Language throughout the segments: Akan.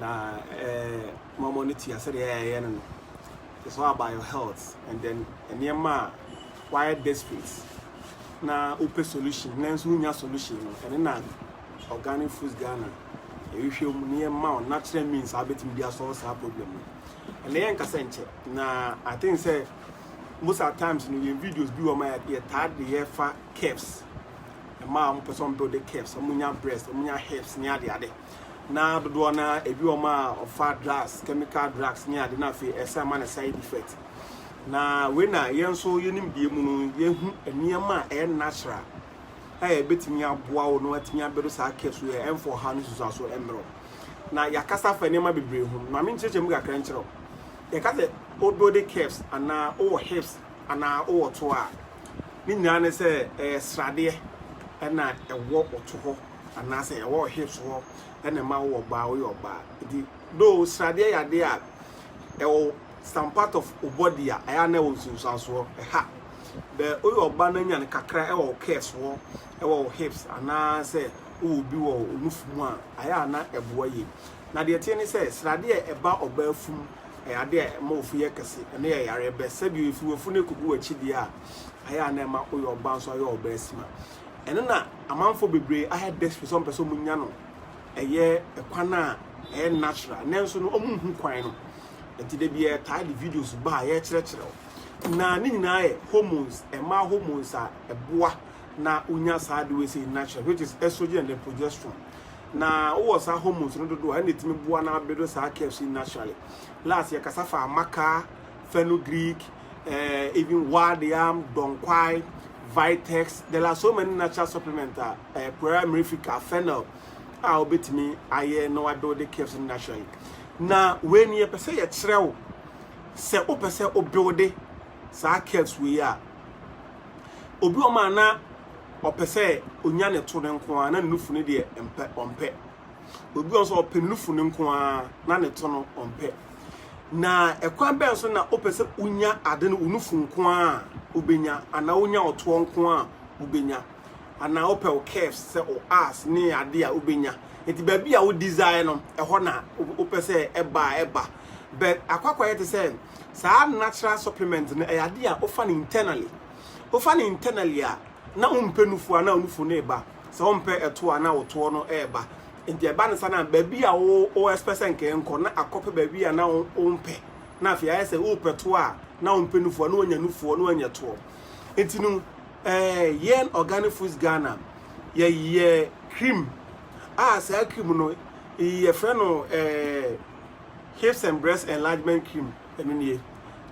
na mɔmɔ no tia sɛdeɛ ɛyɛ no no it's all about your health and then nneɛma a wayɛ desperate na wopɛ solution nanso wonya solution no ɛne na organic foods ghana ɛhwehwɛ mu ne yɛma wo natural means a wobɛtumi de asɔre saa problem no ɛnna yɛ nkasa nkyɛ na i think sɛ most of times no yɛn videos bi wɔ ma yɛtaa de yɛfa caps ɛma a wɔpɛ sɛ wɔbuild caps wɔnya breast wɔnya hips ne adeade na dodoɔ no ara ebi wɔ mu a ɔfa drugs chemical drugs ne ade na afei ɛsan ma no side effect na wei na yɛn nso yɛnim deɛ mu no yɛhu nneɛma a ɛyɛ natural a ɛbɛtumi aboa wo na watumi abɛdo saa kɛ so yɛ ɛmfa ɔhaw ne susu aso mmerɛ na yɛakasa fa nneɛma bebree ho na me nkyerɛkyerɛ mu kakra nkyerɛ yɛka sɛ odo de caps anaa wowɔ hips anaa wowɔ to a ne nyinaa ne sɛ ɛyɛ sradeɛ ɛna ɛwɔ ɔto hɔ anaasɛ ɛwɔ wo hips hɔ ɛna ɛma wo wɔ baa woyɛ ɔbaa nti though sradeɛ yɛ adeɛ a ɛwɔ some part of wo body a ɛyɛ na ɛwɔ nsunsuansoɔ ɛha bɛ woyɛ ɔbaa na nya no kakra ɛwɔ wo curves hɔ ɛwɔ wo hips anaasɛ wowɔ bi wɔ wo nufu mu a ɛyɛ a na ɛboa yie na deɛ teɛ ne sɛ sradeɛ a ɛba ɔbaa fum ɛyɛ adeɛ a ɛma ofu yɛ kɛse ɛno yɛ yareɛ bɛ sɛbi ofi wafu no ɛkɔgu w'akyi deɛ a ɛyɛ a na ɛma woyɛ ɔbaa nso ayɛ ɔbaa sima Ɛno na amanfoɔ bebree ayɛ desperate sɛ wɔn pɛ sɛ wɔn nya no ɛyɛ kwan a ɛyɛ natural nanso no wɔn nhu kwan no nti da bi yɛ taa de videos ba a yɛ kyerɛkyerɛ wo na ne nyinaa yɛ hormones ɛmaa hormones a ɛboa na wonya saa de wei sɛ natural which is estrogen and progesterone na wowɔ saa hormones no dodoɔ a ɛna ɛtumi boa na abedo saa curves yi naturally last yɛ kasa fa amaka fenugreek eh, even Ward Yam, Donkwai, Vitex, there are so many natural supplements a eh, Puera mirifica, fennel a wobɛtumi ayɛ na wade wode caves no naturally na wei ni yɛpɛ sɛ yɛkyerɛ wo sɛ wopɛ sɛ wobuilde saa caves wei a obi ɔma na ɔpɛ sɛ onya ne to no nko a na ne nufu no deɛ mpɛ ɔmpɛ Obi wɔ hɔ sɛ ɔpɛ nufu no nko ara na ne to no ɔmpɛ. Na ɛkwan bɛn so na wopɛ sɛ wonya ade no wo nufu nko ara wobɛnya anaa wonya ɔtoɔ nko ara wobɛnya anaa wopɛ wo curves sɛ wo ass ne ade a wobɛnya nti baabi a wo desire no ɛhɔ na wopɛ sɛ ɛba a ɛba but akwakwa yɛ te sɛ saa natural supplement no ɛyɛ ade a wofa no internally wofa no internally a na wompɛ nufu a na nufu no ɛba Sɛ wompɛ ɛtoɔ a na wotoɔ no reba nti ɛba no sa na baabi a wo expect sɛ nka ɛnkɔ na akɔpɛ baabi a na wompɛ na afei ayɛ sɛ wopɛ toɔ a na wompɛ nufoɔ na woanya nufoɔ na woanya toɔ nti no eh, yɛn organic foods Ghana yɛyɛ cream a saa cream no yɛfrɛ no eh, hips and breast enlargement cream ɛno nie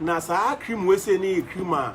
na saa cream wei sei ne yɛ cream a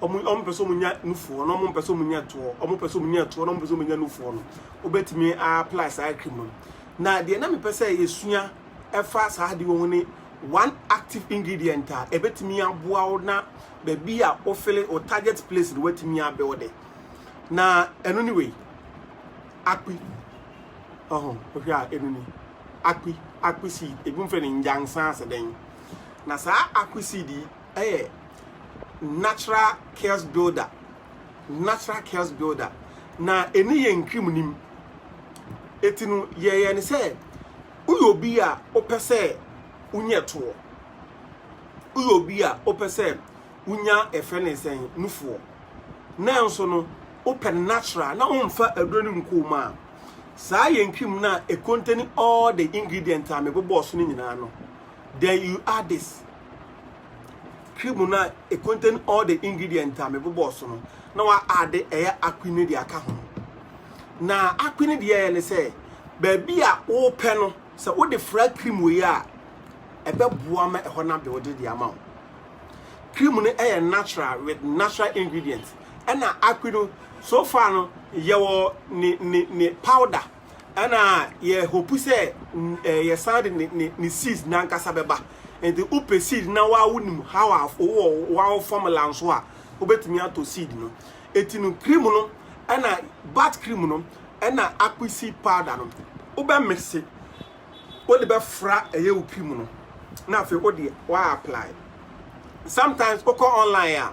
Wɔn a wɔpɛ sɛ wɔnya nufoɔ na wɔpɛ sɛ wɔnya toɔ, wɔpɛ sɛ wɔnya toɔ na wɔpɛ sɛ wɔnya nufoɔ no, wobɛtumi apply saa cream no. Na deɛ na mepɛ sɛ yɛsua ɛfa saa adeɛ wɔ ho ne one active ingredient a ɛbɛtumi aboa wo na baabi a wofele wo target place no watumi abuilde. Na ɛno ne wei, akpi. Ɔho, wohwɛ a ɛno ni, akpi, akpi seed. Ebi mfrɛ no nyansa ase dɛn. Na saa akpi seed yi, yɛ natural chaos builder natural chaos builder na ɛne yɛ nkrim nim ɛti no yɛyɛ ne sɛ woyɛ obi a wopɛ sɛ wonyɛ toɔ woyɛ obi a wopɛ sɛ wonya ɛfɛ ne sɛn nufoɔ nanso no wopɛ no natural na womfa aduro no nkoo mu a saa yɛ nkrim no a ɛkontani all the ingredient a mebobɔɔ so no nyinaa no then you add this cream no a e contain all the ingredient a mebobɔɔ so no na wa aade ɛyɛ akwi no de aka ho na akwi no deɛ yɛ ne sɛ baabi a wopɛ no sɛ wode fra cream wei a ɛbɛboa ma ɛhɔ no abɛwode de ama wo cream no ɛyɛ natural with natural ingredient ɛna akwi no so far no yɛwɔ ne ne ne powder ɛna yɛ hope sɛ eh, yɛ san de ne ne ne seeds nankasa bɛba nti wopɛ seed na waa wonim how a wowɔ wɔn formula nso a wobɛtumi atɔ seed no eti no cream no ɛna bat cream no ɛna akpi seed powder no wobɛ mese wode bɛfra ɛyɛ wo cream no na afei wode waa apply sometimes wokɔ online a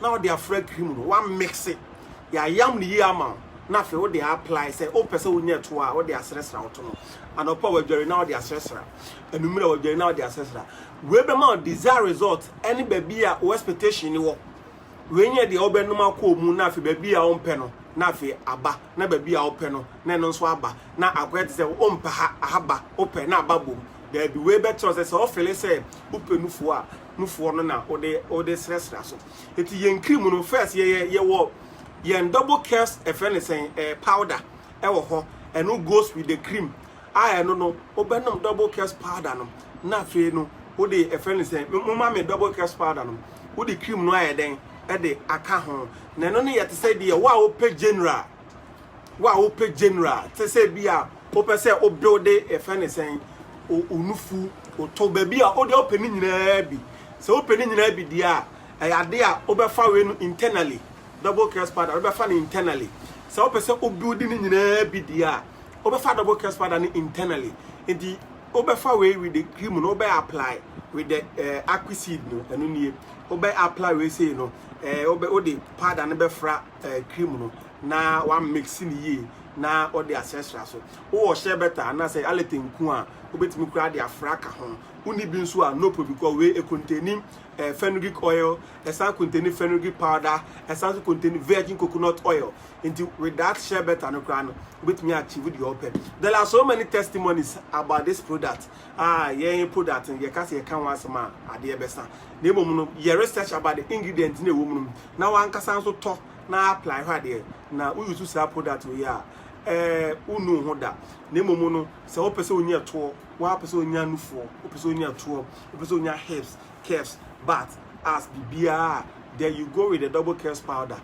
na ɔde afra cream no wa mixe yɛayam no yie ama wo na afei wode apply sɛ wopɛ sɛ wonya ɛto a wode asrɛsra woto no anɔpa a wadware na wode asrɛsra anummerɛ a wadware na wode asrɛsra wei bɛma wo desire result ɛne baabi a wo expectation ni wɔ wei nyɛ deɛ wobɛnom akɔ mu na afei baabi a wompɛ no na afei aba na baabi a wopɛ no na ɛno nso aba na akɔyɛ te sɛ wompɛ ha ahaba wopɛ na aba bom daabi wei bɛkyerɛ sɛ sɛ wofele sɛ wopɛ nufoɔ a mufoɔ no na wode wode srɛsrɛ so eti yɛn cream no first yɛyɛ yɛwɔ yɛn double curves ɛfɛ ne sɛn ɛɛ eh, powder ɛwɔ hɔ ɛno goes with the cream a ɛno no wobɛnom double curves powder no na afei no wode ɛfɛ ne sɛn mo ma me double curves powder no wode cream no ayɛ dɛn ɛde aka ho na ɛno no yɛ te sɛ deɛ wo a wopɛ general. wo a wopɛ general te sɛ bi a wopɛ sɛ o build ɛfɛ ne sɛn onufu oto baabi a wode wopɛ ne nyinaa bi sɛ wopɛ ne nyinaa bi deɛ a ɛyɛ ade a wobɛfa wei no internally double crest powder wobɛfa no internally sɛ wopɛ sɛ o build ne nyinaa bi deɛ a wobɛfa double crest powder no internally nti wobɛfa wei with the cream no wobɛ apply with the uh, aqua seed no ɛno nie wobɛ apply wei sei no uh, wode powder no bɛfra eh, cream no na wa mix no yie na ɔde asrɛsrɛ so wowɔ hyɛ bɛta anaasɛ alɛte nku a wobɛtumi koraa de afra ka ho wonni bi nso a no problem kɔ wei ɛkontani eh, fenugreek oil ɛsan kontani fenugreek powder ɛsan nso kontani virgin coconut oil nti with that hyɛ bɛta no koraa no wobɛtumi achieve deɛ ɔpɛ there are so many testimonies about this product Ah, yɛn mpo dat no, yɛka sɛ yɛka ho asɛm a, adeɛ bɛsa. Na mmom no, yɛ research about the ingredients na ɛwɔ mu no, na w'ankasa nso tɔ na apply hwɛ adeɛ. Na wo use saa product wei a, eh, wonnu ho da. Na mmom no, sɛ wopɛ sɛ wonya toɔ, wopɛ sɛ wonya nufoɔ, wopɛ sɛ wonya toɔ, wopɛ sɛ wonya hips, curves, butt, ass, biribiara a, then you go with the double curves powder.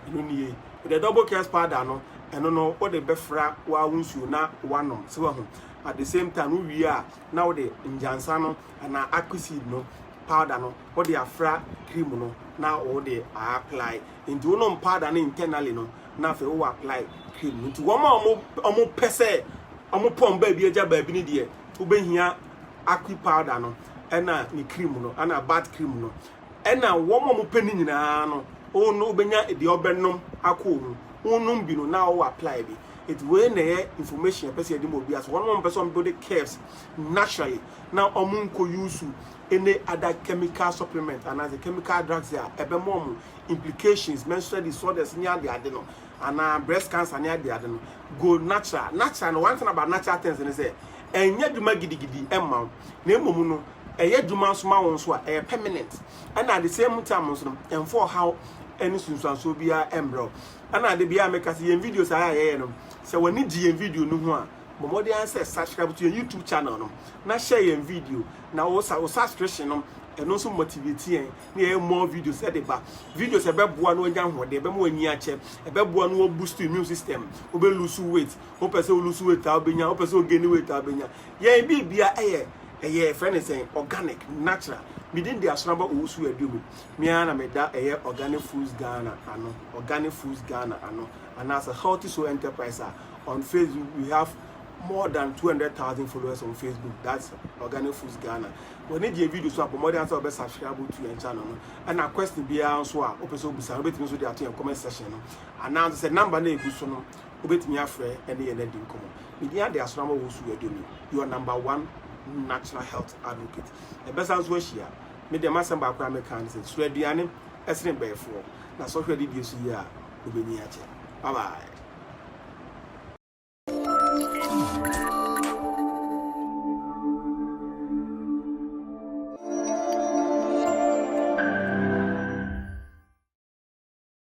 Ɛno nie. The double curves powder no, ɛno no, wode bɛfra wo ara wo nsuo na woanom. Sɛ wahu. at the same time wo wie a na wode ngyansa no anaa akpi seed no powder no wode afra cream no na wode a apply nti wonom powder no internally no na afei wo apply cream no nti wɔn a wɔn wɔn pɛ sɛ wɔn pɔn baabi agya baabi no deɛ wobɛhia akpi powder no ɛna ne cream no ɛna bat cream no ɛna wɔn a wɔn pɛ no nyinaa no wɔn no wobɛnya deɛ ɔbɛnom akɔ mu wonom bi no na wo apply bi Enti wei na ɛyɛ information yɛpɛ sɛ yɛde ma obiara sɛ wɔn a wɔmpɛ sɛ wɔn build curves naturally na wɔn nkɔ use any other chemical supplement anaasɛ chemical drugs a ɛbɛma wɔn implications menstrual disorders ne ade ade no anaa breast cancer ne ade ade no go natural natural no one thing about natural things ne sɛ ɛnyɛ adwuma gidigidi ɛmma wo na mmom no ɛyɛ adwuma nso ma wo nso a ɛyɛ permanent ɛna at the same time nso no ɛmfa ɔhaw ɛne sunsuansoɔ biara ɛmbrɛ wo Ɛna ade biara meka sɛ yɛn videos a yɛyɛ no sɛ w'ani gye yɛn video no ho a bɔ mmɔden ara sɛ subscribe to yɛn YouTube channel no na share yɛn video na wo sa wo subscription no ɛno nso motivate yɛn na yɛyɛ more videos ɛde ba videos ɛbɛboa no anya ahoɔden ɛbɛma w'ani akyɛ ɛbɛboa no wɔ boost immune system wobɛ lose weight wopɛ sɛ wo lose weight a wobɛnya wopɛ sɛ wo gain weight a wobɛnya yɛn biribia ɛyɛ ɛyɛ fɛ ne sɛn organic natural medin de asonaba owusu aduomu Me ara na meda ɛyɛ Organic Foods Ghana ano, Organic Foods Ghana ano, anaasɛ Healthy Soul Enterprise a on Facebook we have more than 200,000 followers on Facebook that's Organic Foods Ghana. W'ani gye video so a bɔ mmɔden sɛ wɔbɛ subscribe to yɛn channel no. Ɛna question biara nso a wopɛ sɛ wobisa no wobɛtumi nso de ato yɛn comment section no anaa nso sɛ number no egu so no wobɛtumi afrɛ ɛne yɛn adi nkɔmmɔ. Medin ade asram wɔ wo so yɛ domi your number one natural health advocate. Ɛbɛsa nso ahyia. Me deɛ m'asɛm baako a mɛka ne sɛ suro aduane ɛsene bɛɛfoɔ na sɔhwɛ adidie so yie a wobɛnyin akyɛ. Bye bye.